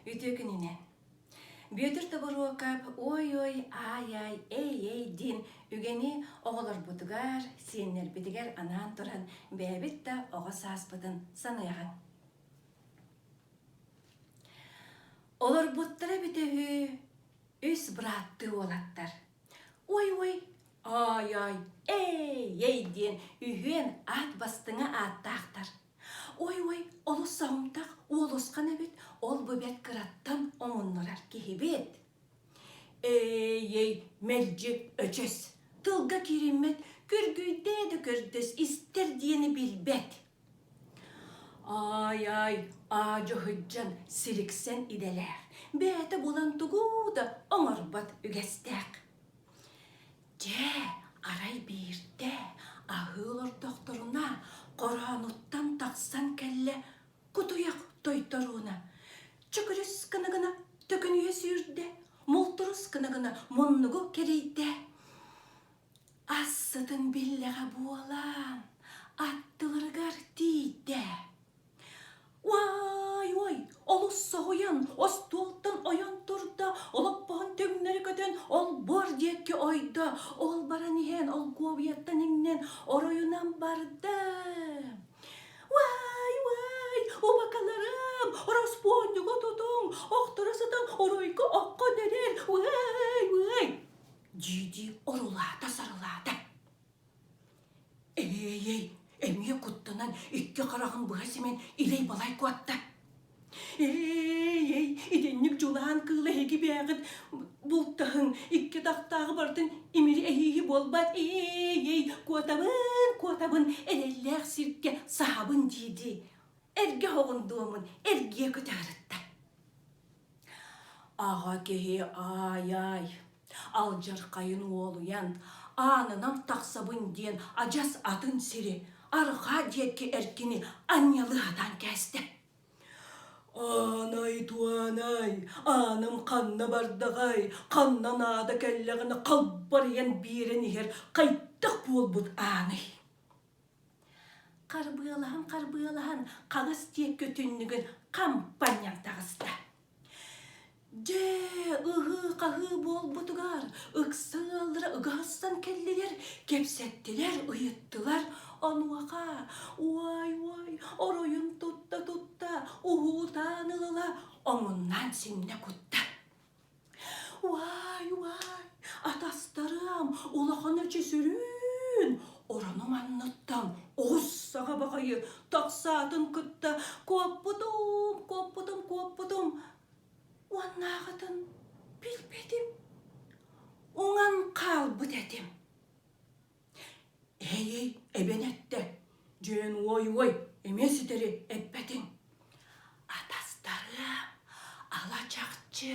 Үтүө күнүнэн! Бүөтүр Тобуруокап «Уой-уой, аай-аай, эй-эй» диэн үгэни оҕолорбутугар, сиэннэрбитигэр анаан туран бэйэбит да оҕо сааспытын саныаҕыҥ. Олорбуттара эбитэ үһү үс бырааттыы уолаттар. «Уой-уой, аай-аай, эй-эй» диэн үһүөн аат бастыҥа ааттаахтар. Ой-ой, олус соһумтах уолусхан эбит, ол-бу бэрт кыраттан омуннурар киһибит. Ээй, мэлдьи өчөс, тылга кириммэт, күргүйдээ да көрдөс истэр диэни билбэт. Аай-аай, аадьо сылдьан силиксэн идэлээх, бэйэтэ булан тугу да оҥорбот үгэстээх. Дьэ, арай биирдэ аһыы олордохторуна хороонуттан тахсан кэллэ кутуйах тойторууна. Чөкүрүс гына гына төкүнүйэ сүүрдэ, мултурус гына гына муннугу кэрийдэ. Ас сытын биллэҕэ буолан аттыларыгар тиийдэ. Уай-уой, олус соһуйан, остуолтан ойон турда, олоппоһун түҥнэри көтөн, олбуор диэкки ойдо. Ол баран иһэн, олгуобуйаттан иҥнэн, оройунан барда. Уай-уай, убакаларым, ороспуонньугу тутуҥ, охторо сытан оройго окко нэрэр, уай-уай. Дьиди орулаата-сарылаата. Эһиэйэй, эмиэ куттанан икки хараҕын быһа симэн илэй-балай куотта. Эһиэйэй, итинник дьулаан кыыл эһиги бээҕит бултаһыҥ, икки атахтааҕы барытын имири эһииһи буолбат. Эһиэйэй, куотабын, куотабын, эрэллээх сиргэ саһабын дии-дии эргэ оҕун дуомун эргийэ кытаарытта. Аҕа киһи аай-аай Алдьархайын уолуйан, аанынан тахсабын диэн адьас атын сири, арҕаа диэки эркини анньалы сатаан кээстэ. Аанай, Туанай, аанам ханна бардаҕай, ханна наада кэллэҕинэ халбарыйан биэрэн иһэр хайдах буолбут ааный? Харбыалаһан харбыалаһан хаҥас диэкки түннүгүн хампанньаҥ таҕыста. Дьэ ыһыы-хаһыы буолбутугар ыкса ыаллара ыгаһастан кэллилэр, кэпсэттилэр, ыйыттылар. Онуоха уай-уай оройун тутта-тутта уһуутаан ылыла омуннаан симнэ кутта Уай, уай, атастарым, улахан эчи сүрүн! Орону манныттан оҕус саҕа баҕайы тахсаатын кытта куоппутум, куоппутум, куоппутум. Уоннааҕытын билбэтим. Уҥан хаалбыт этим. Эһэйэй, эбэн эттэ, дьиэн уой-уой, эмиэ ситэри эппэтиҥ. Атастарыам, алачахчы,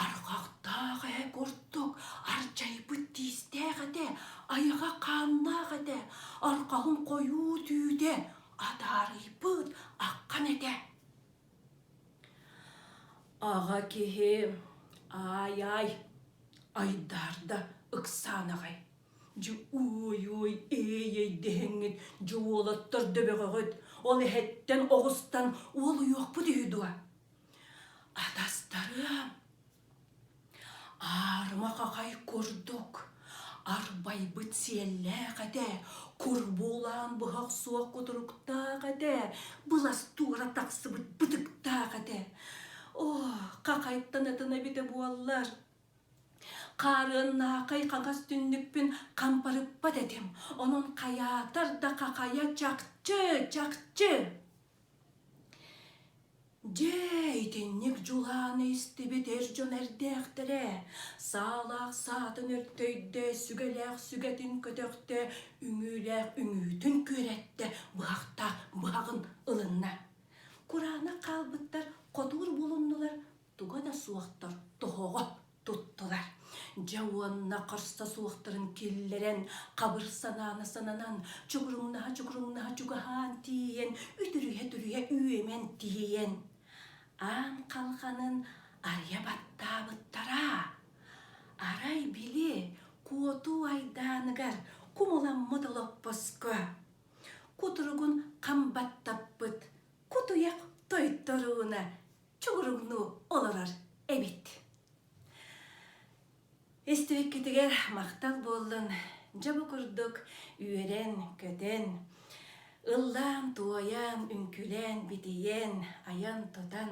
арҕахтаах ээ курдук, ардьайбыт тиистээх этэ, айаҕа хааннаах этэ, арҕаҕын хойуу түүтэ, адаарыйбыт аккан этэ. Аҕа киһи, аай-аай, айдаарда ыксаан аҕай. Дьэ уой-уой ээй-эй дэһэҥҥит дьэ уолаттар да бөҕөҕүт ол эһэттэн оҕустан уолуйуохпут үһү дуо атастарым аарыма хахай курдук арбайбыт сиэллээх этэ курбуулаан быһах суох кутуруктаах этэ былас туора тахсыбыт бытыктаах этэ оо хахайтан ытына эбитэ буоллар Хаарыаннаахай хаҥас түннүкпүн хампарыппат этим, онон хайаатар да хахайа чахчы, чахчы. Дьэ, итинник дьулааны истибит эр дьон эрдээхтэрэ саалаах саатын өртөйдө, сүгэлээх сүгэтин көтөхтө, үҥүүлээх үҥүүтүн күөрэттэ, быһахта быһаҕын ылынна. Кураанах хаалбыттар хотуур булуннулар, туга да суохтар тоһоҕо туттулар дьэ уонна харса суохтарын киллэрэн хабыр санаана сананан чугуруҥнаһа чугуруҥнаһа чугаһаан тиийэн үтүрүһэ-түрүһэ үөмэн тиийэн аан халҕанын арыйа баттаабыттара арай били куотуу айдааныгар кумуламмыт олоппоско кутуругун хам баттаппыт кутуйах тойторууна чугуруҥнуу олорор эбит. Истибиккитигэр махтал буоллун. Дьэ бу курдук үөрэн-көтөн, ыллаан-туойан, үҥкүлээн, битийэн, айан-тутан,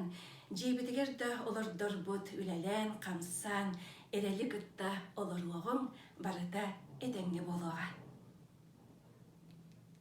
дьиэбитигэр да олордорбут үлэлээн-хамсаан, эрэли кытта олоруоҕуҥ барыта этэҥҥэ буолуоҕа.